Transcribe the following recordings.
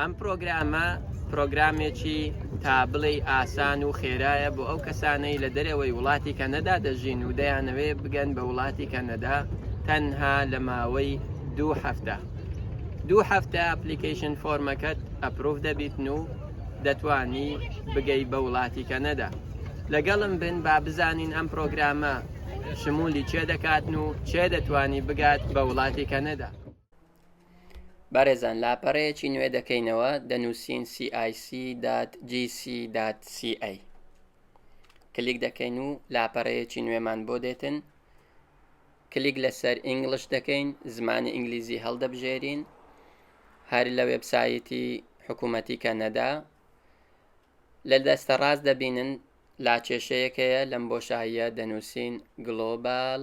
ئەم پرۆگرامە پرۆگرامێکی تا بڵێ ئاسان و خێرایە بۆ ئەو کەسانەی لە دەرەوەی وڵاتی کەنەدا دەژین و دەیانەوێ بگەن بە وڵاتی کەنەدا تەنها لە ماوەی دوو هەفتە دوو هەفتە ئەپلیکیشن فۆرمەکەت ئەپروف دەبیتن و دەتانی بگەی بە وڵاتی کەنەدا لەگەڵم بن با بزانین ئەم پرۆگرامە شمولی چێ دەکاتن و چێ دەتانی بگات بە وڵاتی کەنەدا بەڕێزان لاپەڕەیەکی نوێ دەکەینەوە دەنووسین cic.gc.ca کلیک دەکەین و لاپەڕەیەکی نوێمان بۆ دێتن کلیک لەسەر ئینگلش دەکەین زمانی ئینگلیزی هەڵدەبژێرین هەر لە وێبسایەتی حکوومەتی کەنەدا لە دەستە ڕاست دەبینن لاکێشەیەکەیە لەم بۆشاییە دەنووسین گلۆبال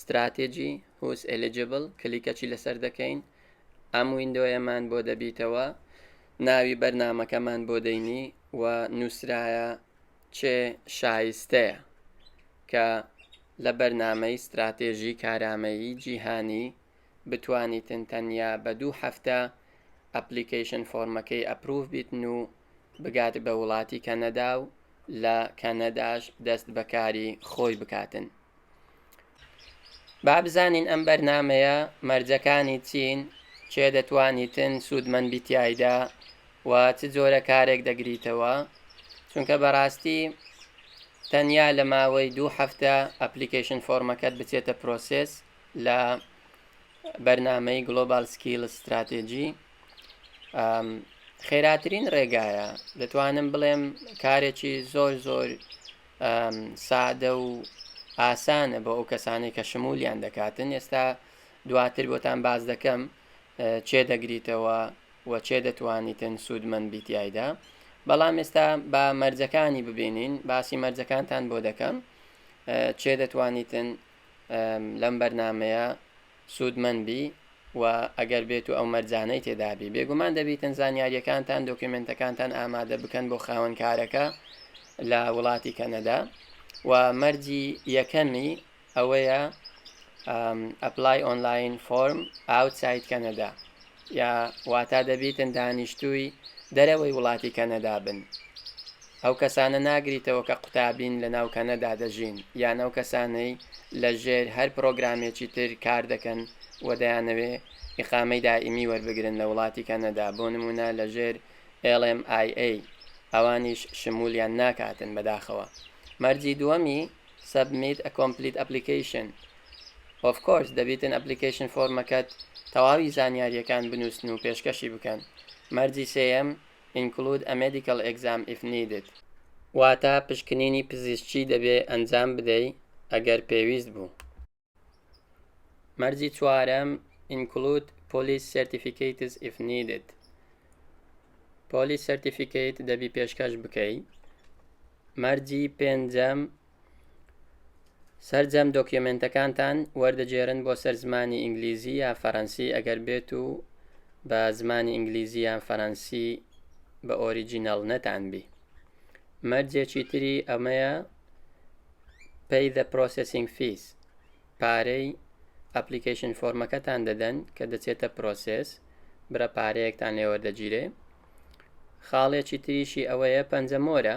ستراتیجی، Who is eligible، کلیکەچی لەسەر دەکەین، ئەم ویندۆیەمان بۆ دەبیتەوە، ناوی بەرنامەکەمان بۆ دەینی و نووسرایە چێ شایستەیە کە لە بەرنامەی ستراتێژی کارامەیی جیهانی بتوانیتن تەنیا بە دوو هەفتە ئەپلیکەیشن فۆرمەکەی ئەپروڤ بیتن و بگات بە وڵاتی کەنەدا و لە کەنەداش دەست بەکاری خۆی بکاتن با بزانین ئەم بەرنمەیە مەرجەکانی چین چێ دەتوانیتن سوودمەند بیتایدا و چ جۆرە کارێک دەگریتەوە چونکە بەڕاستی تەنیا لە ماوەی دوو هەفتە ئەپلیکیشن فۆرمەکەت بچێتە پرۆسس لە بەرنمەی گلۆبال سکیل استراتێجی خێراترین ڕێگایە دەتوانم بڵێم کارێکی زۆر زۆر سادە و ئاسانە بۆ ئەو کەسانی کە شمولیان دەکاتن ئێستا دواتر بۆتان باز دەکەم چێ دەگریتەوە و چێ دەتوانیتن سوودمەند بیتیایدا بەڵام ئێستا با مەرجەکانی ببینین باسی مەرجەکانتان بۆ دەکەم چێ دەتوانیتن لەم بەرنمەیە سوودمەند بی و ئەگەر بێت و ئەو مەرجانەی تێدا بی بێگومان دەبیتن زانیاریەکانتان دۆکیومێنتەکانتان ئامادە بکەن بۆ خاوەن کارەکە لە وڵاتی کەنەدا و مەرجی یەکەمی ئەوەیە ئەپلای ئۆنلاین فۆرم ئاوتساید کەنەدا یا واتا دەبیتن دانیشتووی دەرەوەی وڵاتی کەنەدا بن. ئەو کەسانە ناگریتەوە کە قوتابین لە ناو کەنەدا دەژین یان ئەو کەسانەی لە ژێر هەر پرۆگرامێکی تر کار دەکەن و دەیانەوێ ئیقامەی دائیمی وەربگرن لە وڵاتی کەنەدا بۆ نموونە لە ژێر LMIA ئەوانیش شمولیان ناکاتن بەداخەوە. مەرجی دووەمی Submit a complete application Of course دەبیتن ئەپلیکەیشن فۆرمەکەت تەواوی زانیاریەکان بنوسن و پێشکەشی بکەن مەرجی سێیەم Include a medical exam if needed. واتە پشکنینی پزیشکی دەبێ ئەنجام بدەی ئەگەر پێویست بوو. مەرجی چوارەم Include police certificates if needed. Police certificate دەبی پێشکەش بکەی. مەرجی پێنجەم سەرجەم دۆکیۆمێنتەکانتان وەردەگێرن بۆ سەر زمانی ئینگلیزی یا فەرەنسی ئەگەر بێت و بە زمانی ئینگلیزی یان فەرەنسی بە ئۆریجینەڵ نەتان بی مەرجێکی تری ئەمەیە پێی دە پرۆسسینگ فیس پارەی ئەپلیکیشن فۆرمەکەتان دەدەن کە دەچێتە پرۆسس برە پارەیەکتان لێوەردەگیرێ خاڵێکی تریشی ئەوەیە پەنجەمۆرە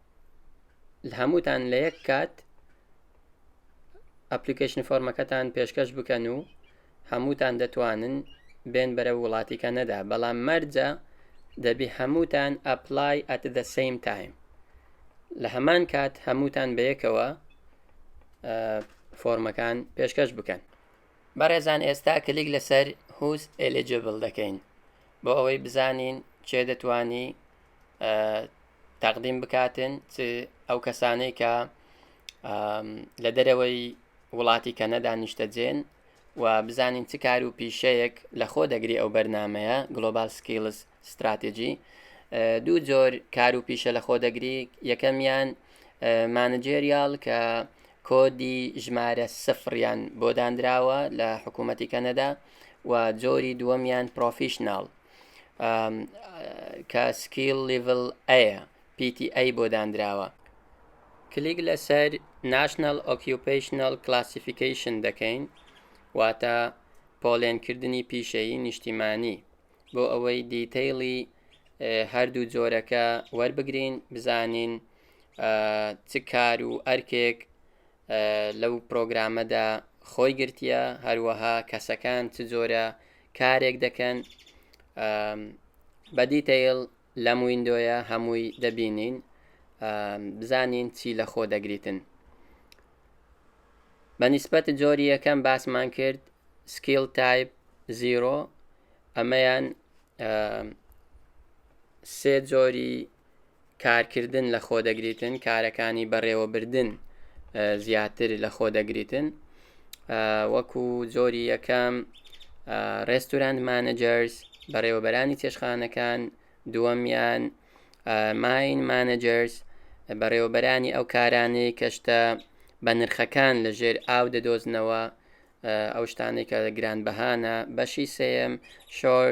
هەمووتان لە یەک کات ئەپلیکیشن فۆرمەکەتان پێشکەش بکەن و هەمووتان دەتوانن بێن بەرە وڵاتیکە نەدا بەڵام مەرجە دەبی هەمووتان ئەپلای ئەت دە سیم تایم لە هەمان کات هەمووتان بەیەکەوە فۆرمەکان پێشکەش بکەن بەڕێزان ئێستا کلیک لەسەر هوس ئەلجبل دەکەین بۆ ئەوەی بزانین چێ دەتوانی تەقدیم بکاتن چ ئەو کەسانەی کە لە دەرەوەی وڵاتی کەنەدا نیشتەجێن و بزانین چ کار و پیشەیەک لە خۆ دەگری ئەو بەرنمەیە گلۆبال سکیلز استراتیژی دوو جۆر کار و پیشە لە خۆ دەگری یەکەمیان مانجێریال کە کۆدی ژمارە سفریان بۆ دانراوە لە حکوومەتی کەنەدا و جۆری دووەمیان پرۆفیشنناڵ کە سکیل لیڤل ئەیە پیتی ئەی بۆ دانراوە کلیک لەسەر ناشنل ئۆکیوپیشنل کلاسیفیکیشن دەکەین واتە پۆلێنکردنی پیشەیی نیشتیمانی بۆ ئەوەی دیتەیڵی هەردوو جۆرەکە وەربگرین بزانین چ کار و ئەرکێک لەو پرۆگرامەدا خۆی گرتیە هەروەها کەسەکان چ جۆرە کارێک دەکەن بە دیتەیل لەم وینندۆیە هەمووی دەبینین بزانین چی لە خۆ دەگریتن بە نیسبەت جۆری یەکەم باسمان کرد سکیل تایپ زیرۆ ئەمەیان سێ جۆری کارکردن لە خۆ دەگریتن کارەکانی بەڕێوەبردن زیاتر لە خۆ دەگریتن وەکو جۆری یەکەم ڕێستورانت مانەجەرس بەڕێوەبەرانی چێشخانەکان دووەمیان ماین مانەجەرس بەڕێوەبەرانی ئەو کارانەی کەشتە بە نرخەکان لە ژێر ئاو دەدۆزنەوە ئەو شتانێکە گران بەهانە بەشی سێم شۆر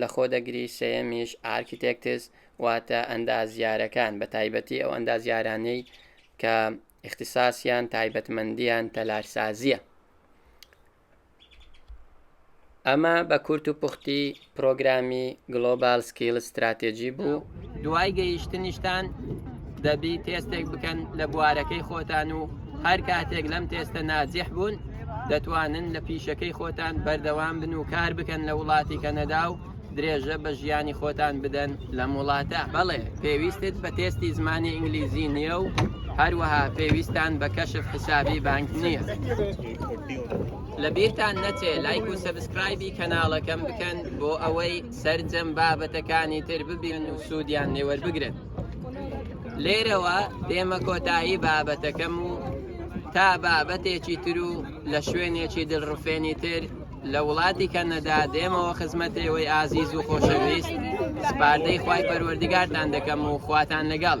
لەخۆ دەگری، سێیەمیش، Architects، واتە ئەندازیارەکان، بەتایبەتی ئەو ئەندازیارانەی کە ئیختیساسیان، تایبەتمەندییان، تەلارسازییە. ئەمە بە کورت و پوختی پرۆگرامی Global Skills Strategy بوو. دوای گەیشتنیشتان دەبی تێستێک بکەن لە بوارەکەی خۆتان و هەر کاتێک لەم تێستە نازیح بوون دەتوانن لە پیشەکەی خۆتان بەردەوام بن و کار بکەن لە وڵاتی کەنەدا و درێژە بە ژیانی خۆتان بدەن لەم وڵاتە بەڵێ پێویستت بە تێستی زمانی ئینگلیزی نییە و هەروەها پێویستان بە کەشف حسابی بانک نییە لە بیرتان نەچێ لایک و سەبسکرایبی کەناڵەکەم بکەن بۆ ئەوەی سەرجەم بابەتەکانی تر ببینن و سوودیان لێوەربگرن لێرەوە دێمە کۆتایی بابەتەکەم و تا بابەتێکی تر و لە شوێنێکی دڵڕفێنی تر لە وڵاتی کەنەدا دێمەوە خزمەتێەوەی ئازیز و خۆشەویست سپاردەی خی پەروەردگارتان دەکەم و خواتان لەگەڵ.